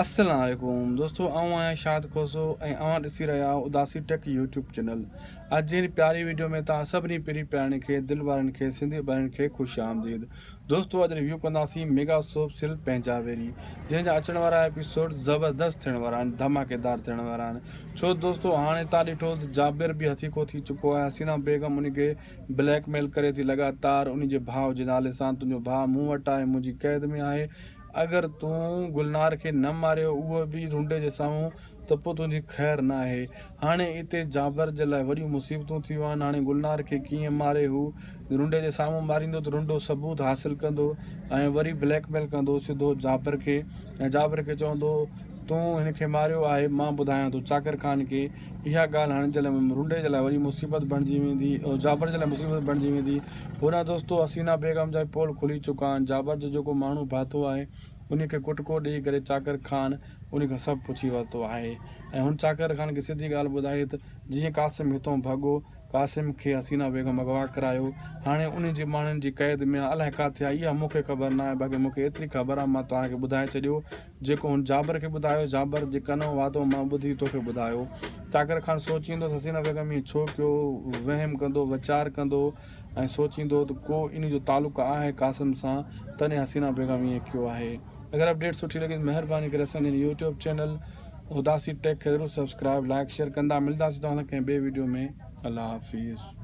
السلام عليڪم دوستو آئون آهيان شاد کوسو ۽ اوهان ڏسي رهيا آهيو اداسي ٽيڪ يوٽيوب چينل اڄ جي هن پياري ويڊيو ۾ توهان سڀني پرين پيارڻين کي دل وارن کي سنڌي ڀائرن کي خوش آمديد دوستو اڄ ريويو ڪنداسين ميگا سوپ سل پنهنجا ويري جنهن جا اچڻ وارا ايپيسوڊ زبردست ٿيڻ وارا آهن ڌماڪيدار ٿيڻ وارا آهن ڇو دوستو هاڻي تان ڏٺو ته جابر به هٿيڪو ٿي چڪو آهي حسينا بيگم ان کي بليڪ ميل ڪري ٿي لڳاتار ان جي ڀاء جي نالي سان تنهنجو ڀاء مون وٽ آهي منهنجي قيد ۾ آهي اگر تون گلنار کي نه ماريو اهو به رونڊي جي سامهون ته پوء تنهنجي خير نه آهي. هاڻي اتي جابر جي لاء وڏيون مصيبتون ٿيون آهن. هاڻي گلنار کي ڪيئن ماري؟ هو رونڊي جي سامهون ماريندو ته رونڊو ثبوت حاصل ڪندو ۽ وري بليڪ ميل ڪندو سڌو جابر کي ۽ جابر کي چوندو تون هن کي ماريو آهي مان ٻڌايان ٿو چاڪر خان کي اها ڳالهه هاڻي جي لاء رونڊي جي لاء وڏي مصيبت بڻجي ويندي جابر جي لاء مصيبت بڻجي ويندي. هوڏانهن دوستو حسينا بيگم جا به پول کلي چڪا آهن. جابر جو جيڪو ماڻهو ڀاتو آهي، انهي کي ڪٽڪو ڏيئي ڪري چاڪر خان انهي کان سڀ پڇي ورتو آهي ۽ هن چاڪر خان کي سڌي ڳالهه ٻڌائي ته جيئن قاسم هتئون ڀڳو، قاسم کي حسينا بيگم اغوا ڪرايو، هاڻي انهي جي ماڻهن جي قيد ۾ آ، الائي ڪاٿي آ، اها مون کي خبر ناهي، باقي مون کي ايتري خبر آ، مان توهان کي ٻڌائي ڇڏيو جيڪو هن جابر کي ٻڌايو. جابر، جي ڪنو وعدو مان ٻڌي توکي ٻڌايو. چاڪر خان سوچيندو ته حسينه بيگم ائين ڇو ڪيو؟ وهم ڪندو، ويچار ڪندو ۽ سوچيندو ته ڪو انهي جو تعلق آهي قاسم سان تڏهن حسينه بيگم ائين ڪيو آهي. اگر اپڊيٽ سٺي لڳي ته مهرباني ڪري اسان جي هن يوٽيوب چينل اداسي ٽيڪ کي ضرور سبسڪرائيب، لائيڪ، شيئر ڪندا. ملداسين توهان سان ڪنهن ٻئي ويڊيو ۾ الله حافظ.